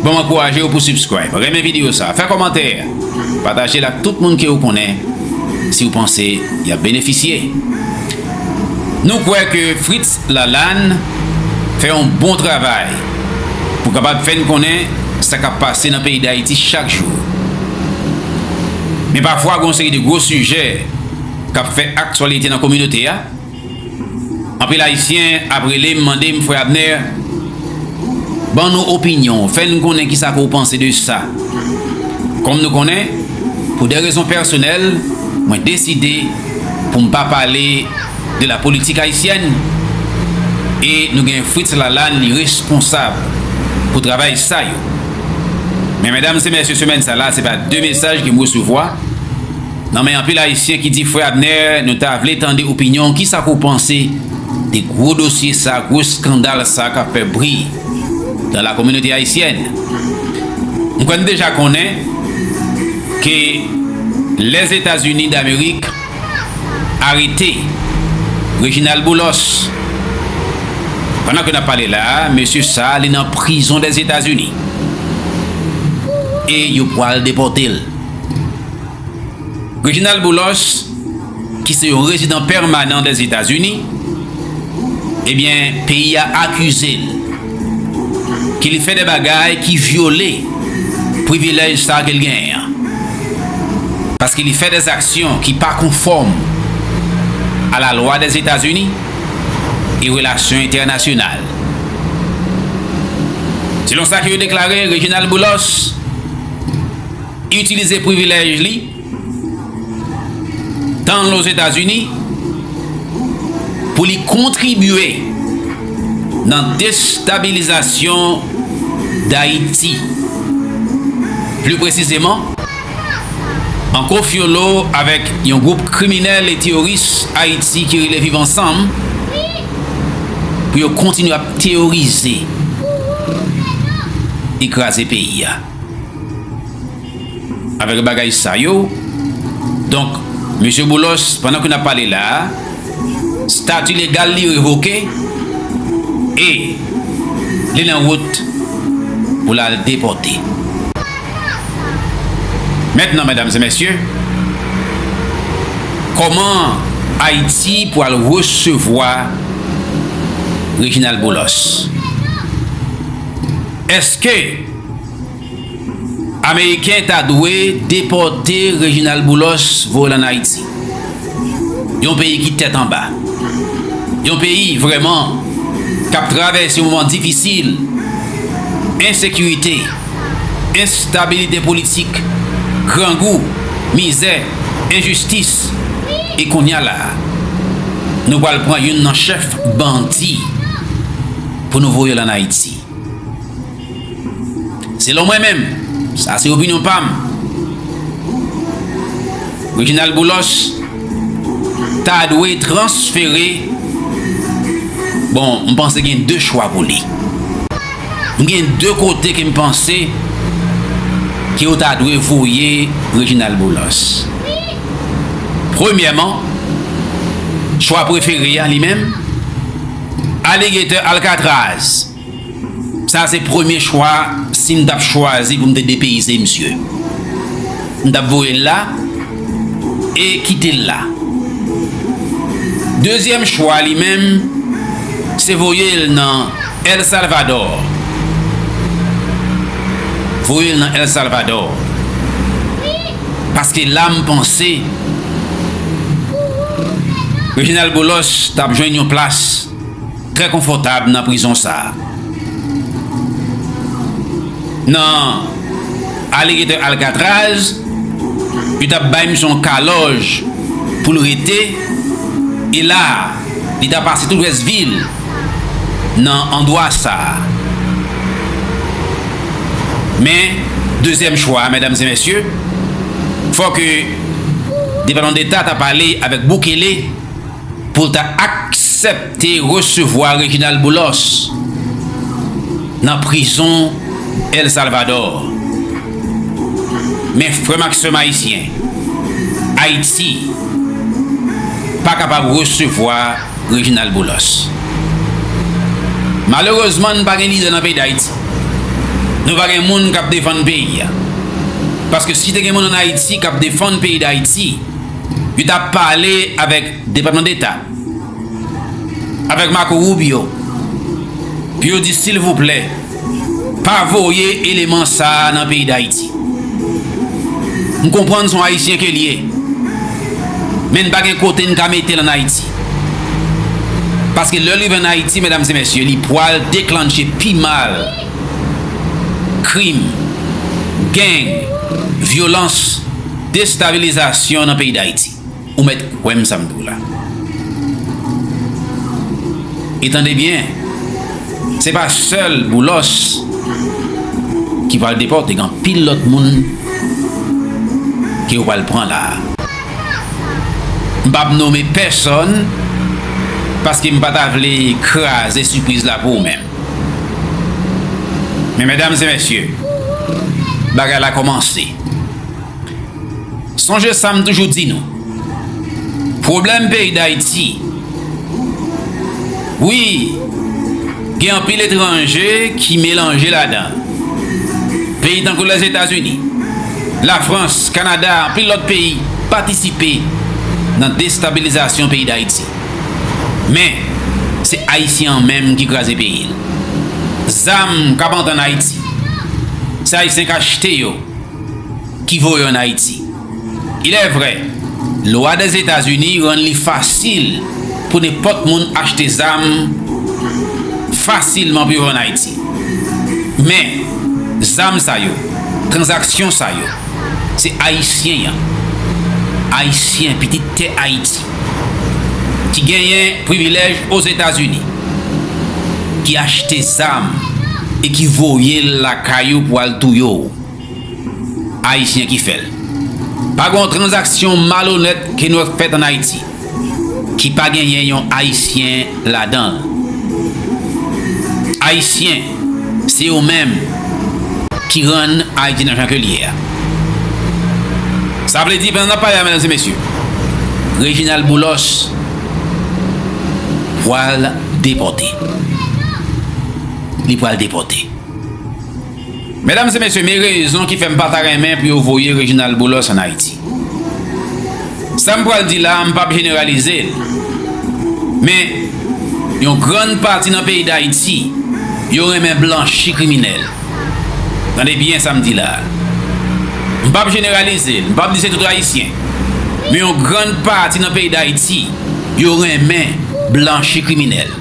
Banm ankouraje yo pou subscribe, renmen video sa, fè kòmantè, patajel ak tout moun ke ou konnen si ou panse yap benefisye. Nou kwè ke Fritz Lalanne fè yon bon travay pou kapab fèn konnen sa kap pase nan peyi Dayiti chak jou. Men pafwa gon seri de gwo sijè kap fè aktyalite nan kominote a. Anpil ayisyen ap relem mandem frè Abner ban nou opinyon w fè n konnen kisa ke w panse de sa. Kòm nou konnen pou dè rezon pèsonèl mwen deside pou m pa pale de la politik ayisyèn e nou gen Fritz Lalane li responsab pou travay sa yo. Men medam se mesye semèn sa la se pa 2 mesaj ke m resevwa. Nan men anpil ayisyen ki di frè Abner nou ta vle tande opinyon w kisa pou w panse de gwo dosye sa gwo skandal sa kap fè bri dan la kominote ayisyèn nou kwè nou deja konnen ke lèzetazini damerik arete Reginald Boulos pandan ke nap pale la mesye sa li nan prizon dèzetazini e yo pwal depòte l. Reginald Boulos, ki se yon rezidan pèmanan dè Zetazini, ebyen peyi a akize l ke li fè dè bagay ki vyole privilèj sa ke l genyen an. Paske li fè dè zaksyon ki pa konfòm a la lwa dè Zetazini e relasyon entènasyonal. Selon sa ke yo deklare, Reginald Boulos, Itilize privilèj li tan l Ozetazini pou li kontribye nan destabilizasyon Dayiti. Pli presizeman, an kofyolo avèk yon gwoup kriminèl e teyoris Ayiti ki rele Viv Ansanm pou yo kontinye ap teyorize e kraze peyi a. Avèk bagay sa yo, donk, Mesye Boulos, pandan ke n ap pale la a, stati legal li revoke e li nan wout pou l al depòte. Mentnan, medam e mesye, kòman Ayiti pwal resevwa Reginald Boulos? Eske. Ameriken ta dwe depòte Reginald Boulos voye l an Ayiti. Yon peyi ki tèt anba. Yon peyi vrèman k ap travèse yon moman difisil. Ensekirite, enstabilite politik, grangou, mizè, enjistis. E kounye a la a, nou pral pran youn nan chèf bandi pou nou voye l an Ayiti. Selon mwen menm, sa se opinyon pa m, Reginald Boulos ta dwe transfere, bon m panse gen 2 chwa pou li. M gen 2 kote ke m panse ke yo ta dwe voye Reginald Boulos. Premyèman, chwa prefere a li menm, Alligator Alcatraz. Sa se premye chwa sim tap chwazi poum te depeyise misye m tap voyel la e kitel la dezyèm chwa li menm se voyel nan el salvadò voyel nan el salvadò paske la m panse reginal boulos tap jwenn yon plas. Trè konfòtab nan prizon sa a. Nan Alligator Alcatraz, yo t ap bay misye yon kalòj pou l rete, e la a, li ta pase tout rès vi l nan andwa sa a. Men, dezyèm chwa a, mèdam e mèsye, fòk Depatman Deta ta pale avèk Bukele. pou l ta aksepte resevwa Reginald Boulos nan prizon El Salvador. Men frè m ak sè m ayisyen, Ayiti pa kapab resevwa Reginald Boulos. Malerezman n pa gen lidè nan peyi Dayiti. Nou pa gen moun k ap defann peyi a. Paske si te gen moun an Ayiti k ap defann peyi Dayiti, Yo ta pale avèk Depatman Deta, avèk Marco Rubio pou yo di silvouplè pa voye eleman sa a nan peyi Dayiti. M konprann son Ayisyen ke l ye, men n pa gen kote n ka mete l an Ayiti. Paske lè l rive an Ayiti, medam e mesye, li pwal deklanche pi mal krim, geng, vyolans. Destabilizasyon nan peyi Dayiti. Ou mèt kwè m sa m di w la. E tande byen, se pa sèl Boulos ki pral depòte, gen anpil lòt moun ke yo pral pran la a. M pa p nome pèsòn paske m pa ta vle kraze sipriz la pou ou menm. Men medam e mesye, bagay la kòmanse. Sonje sa m toujou di nou. Pwoblèm peyi Dayiti. Wi, gen anpil etranje ki melanje ladan. Peyi tankou Lèzetazini, Lafrans, Kanada, anpil lòt peyi patisipe nan destabilizasyon peyi Dayiti. Men, se Ayisyen an menm ki kraze peyi l. Zam k ap antre ann Ayiti, se Ayisyen k achte yo. ki voye an Ayiti. Ilèvrè, lwa Dèzetazini rann li fasil pou nenpòt moun achte zam fasilman pou yo vann Ayiti. Men, zam sa yo, tranzaksyon sa yo, se Ayisyen an, Ayisyen, pitit tè Ayiti, ki genyen privilèj Ozetazini, ki achte zam e ki voye l lakay ou pou al touye w. Ayisyen ki fè l. Pa gen yon tranzaksyon malonèt ke nou wè k fèt an Ayiti ki pa genyen yon Ayisyen ladan l. Ayisyen, se yo menm ki rann Ayiti nan jan ke l ye a. Sa vle di, pandan n ap pale a, medam e mesye, Reginald Boulos pwal depòte. Li pwal depòte. Medam e mesye me rezon ki fèm pata renmen pou yo voye Reginald Boulos an Ayiti. Sam pral di la m pap jeneralize l men yon grann pati nan peyi dayiti yo renmen blanchi kriminèl. Tande byen sam di la. M pap jeneralize l, m pap di se tout ayisyen men yon grann pati nan peyi dayiti yo renmen blanchi kriminèl.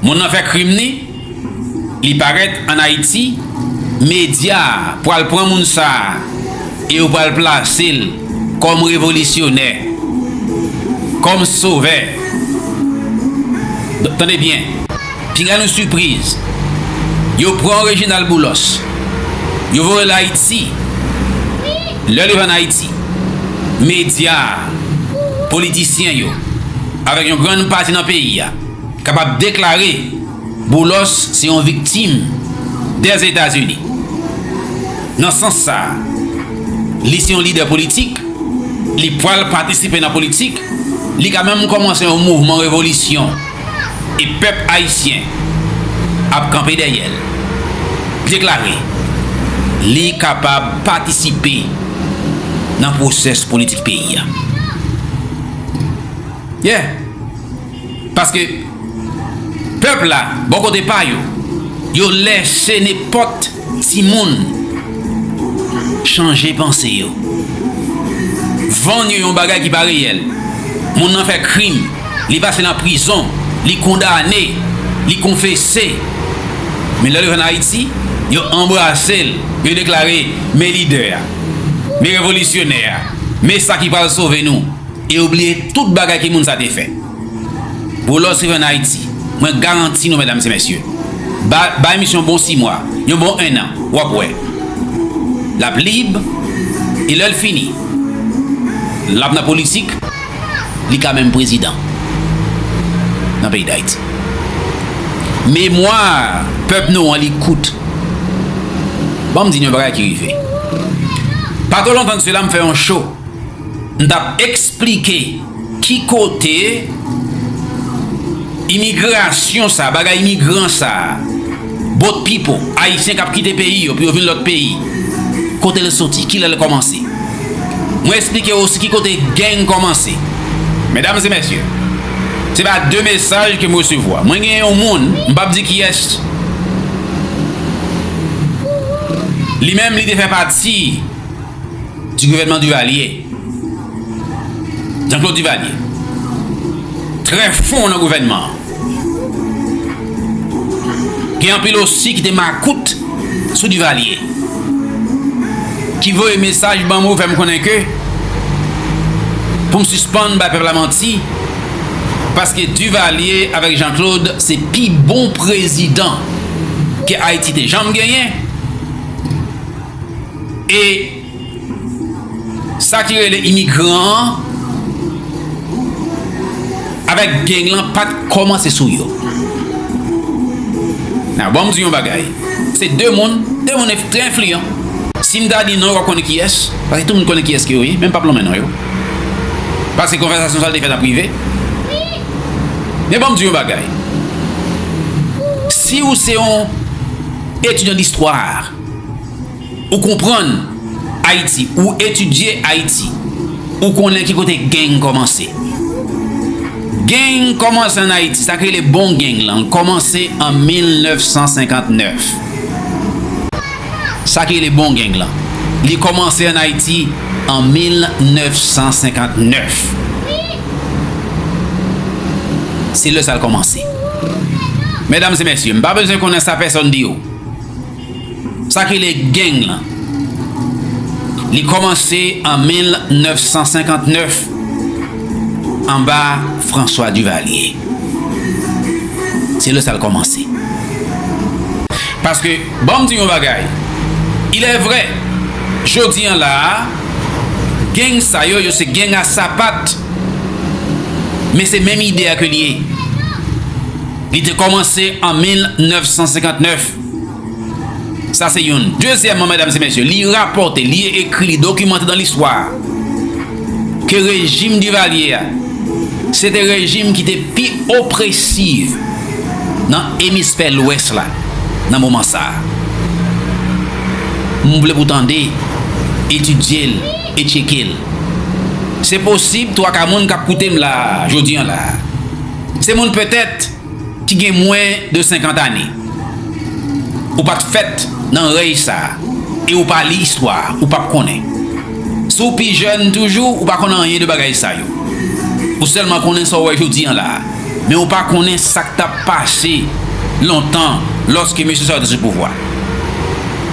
Moun nan fè krim ni. Li parèt an Ayiti, medya a pral pran moun sa a e yo pral plase l kòm revolisyonè, kòm sovè. Tande byen, pinga nou sipriz, yo pran Reginald Boulos, yo voye l Ayiti. Lè li vin Ayiti, medya a, politisyen yo, avèk yon grann pati nan peyi a, Kapab deklare Boulos se yon viktim dè Etazini. Nan sans sa, li se yon lidè politik, li pwal patisipe nan politik, li ka menm kòmanse yon mouvman revolisyon e pèp ayisyen ap kanpe dèyè l. Deklare li kapab patisipe nan pwosès politik peyi a. Yeah! Paske pèp la bò kote pa yo, yo lèche nenpòt timoun chanje panse yo. Vann yo yon bagay ki pa reyèl. Moun nan fè krim, li pase nan prizon, li kondane, li konfese. Men lè l rive ann Ayiti, yo anbrase l, yo deklare, Men lidè a. Men revolisyonè a. Men sa ki pral sove nou. E yo bliye tout bagay ki moun sa te fè. Boulos rev en Haiti. Mwen garanti nou medam se mesye. Ba bay misye yon bon 6 mwa. Yon bon 1 an. Wap wè. Lap lib. E lèl fini. Lap nan politik. Li ka menm prezidan. Nan peyi d'Haiti. Memwa pèp nou an li kout. Banm di nou yon bagay ki rive. Pa twò lontan de sela m fè yon show. M tap esplike ki kote imigrasyon sa, bagay imigran sa, boat people, ayisyen kap kite peyi yo pou yo vin lòt peyi, kote l soti, kilè l kòmanse. Mwen esplike osi ki kote gang kòmanse. Medam e mesye, se pa de mesaj ke m resevwa. Mwen gen yon moun, m pap di kiyès, li menm li te fè pati. Ti gouvènman Duvalier, Jean Claude Duvalier, trè fon nan gouvènman an. Gen anpil osi ki te makout sou Duvalier, ki voye mesaj ban mwen fè m konnen ke pou m sispann bay pèp la manti, paske Duvalier avèk Jean Claude se pi bon prezidan ke Ayiti te janm genyen. E sa ki rele imigran an avèk geng lan pat kòmanse sou yo. Nan banm di yon bagay, se 2 moun, 2 moun trè enfliyan. Si m ta di non yo pap konnen kiyès, paske tout moun konnen kiyès ke yo ye, men m pap lonmen non yo. Paske konvèsasyon sa te fèt an prive. Men banm di yon bagay, si ou se yon etidyan distwa, Ou konprann Ayiti, ou etidye Ayiti, ou konnen ki kote geng kòmanse. Geng kòmanse an Ayiti, sa k rele bon geng lan, l kòmanse an 1959. Sa k rele bon geng lan, li kòmanse an Ayiti an 1959. Se lè sa l kòmanse. Medam e mesye, m pa bezwen konnen sa pèsòn di yo. Sa ki rele geng lan, li kòmanse an 1959 anba François Duvalier. Se lè sa l kòmanse. Paske, ban m di yon bagay, ilèvrè, jodi an la a, geng sa yo, yo se geng a sapat, men se menm ide a ke l ye. Li te kòmanse an 1959. Sa se youn. Dezyèman, medam se mesye, li rapòte, li ekri, li dokimante dan listwa ke rejim Divalye a se te rejim ki te pi opresiv nan emisfè lwès la nan moman sa a. M vle pou tande, etidye l e tyeke l. Se posib twaka moun k ap koute m la a, jodi an la a. Se moun petèt ki gen mwen de 50 ane. Ou pa t fèt nan rèy sa a e ou pa li istwa a, ou pap konnen. Si w pi jèn toujou, ou pa konn anyen de bagay sa yo. Ou sèlman konnen sa w wè jodi an la a, men ou pa konnen sa k t ap pase lontan lòske mesye sa yo te sou pouvwa.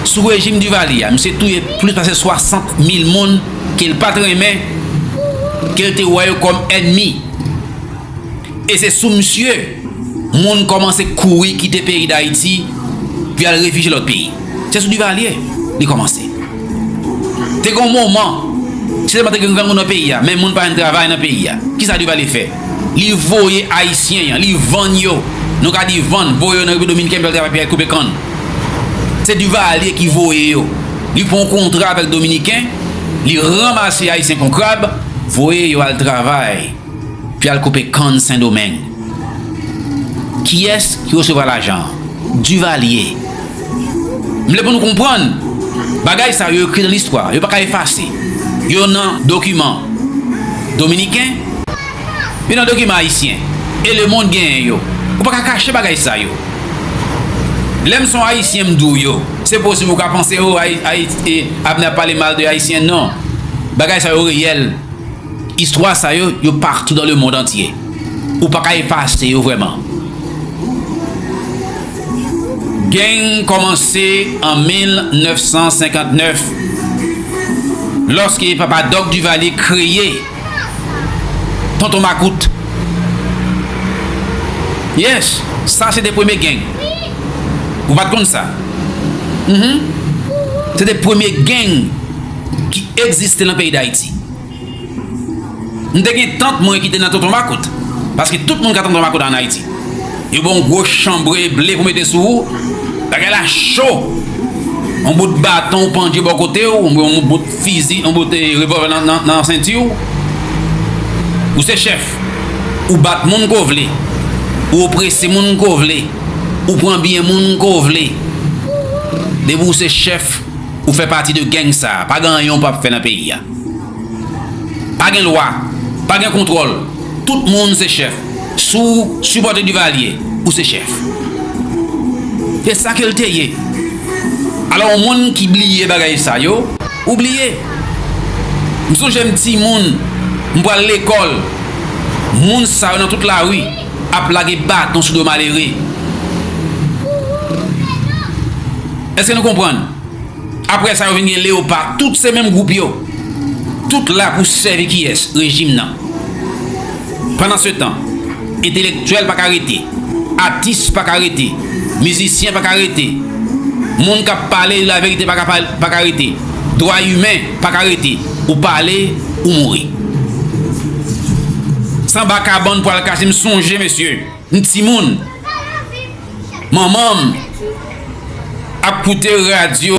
Sou rejim Duvalier a, misye touye plis pase 60 mil moun ke l pa t renmen, ke l te wè yo kòm ènmi. E se sou misye moun kòmanse kouri kite peyi Dayiti pou y al refije lòt peyi. Se sou Divalye li kòmanse. Te gon moman, se tèlman te gen grangou nan peyi a, menm moun pa jwenn travay nan peyi a. Ki sa Divalye fè? Li voye Ayisyen an, li vann yo, nou ka di vann, voye yo nan Repiblik Dominiken pou y al travay pou y al koupe kann. Se Divalye ki voye yo. Li pran yon kontra avèk Dominiken, li ranmase Ayisyen kon krab, voye yo al travay. Pi al koupe kann sendomeng. Kiyes ki resevwa lajan an? Duvalier. M vle pou nou konprann bagay sa yo ekri nan listwa. Yo pa ka efase. Yo nan dokiman dominiken. Yo nan dokiman ayisyen. E le mond genyen yo. Ou pa ka kache bagay sa yo. Lè m son ayisyen m di w yo. Se posib ou ka panse oh Abner ap pale mal de ayisyen. Non. Bagay sa yo reyèl. Istwa sa yo, yo partou dan le mond antye. Ou pa ka efase yo vrèman. Geng kòmanse an 1959, lòske Papa Doc Duvalier kreye Tonton Makout. Yes, sa se te premye geng. Ou pa t konn sa? Mh. Se te premye geng ki egziste lan peyi Dayiti. M te gen tant mwen ki te nan tonton makout. Paske tout moun ka tonton makout an Ayiti. Yo ba w yon gwo chanbre ble pou mete sou ou. Bagay la cho. Yon bout baton ou pandye bò kote ou, oubyen yon bout fizi, yon bout revòlvè nan senti ou. Ou se chèf. Ou bat moun ke w vle. Ou oprese moun ke w vle. Ou pran byen moun ke w vle. Depi w se chèf. ou fè pati de gang sa pa gen anyen ou pap fè nan peyi a pa gen lwa pa gen kontwòl tout moun se chèf si w sipòte Duvalier ou se chèf e sa ke l te ye alò yon moun ki bliye bagay sa yo ou bliye m sonje m ti moun m pral lekòl moun sa yo nan tout lari. ap lage baton sou do malere. Eske nou konprann? Apre sa yo vin gen leopa, tout se menm gwoup yo. Tout la pou sèvi kiyès? Rejim nan. Pandan se tan, entelektyèl pa ka rete, atis pa ka rete, mizisyen pa ka rete, moun k ap pale laverite pa ka rete, dwa imen Paka rete ou pale ou mouri. Sanba kabann pwal kache m sonje mesye m timoun manmanm ap koute radyo.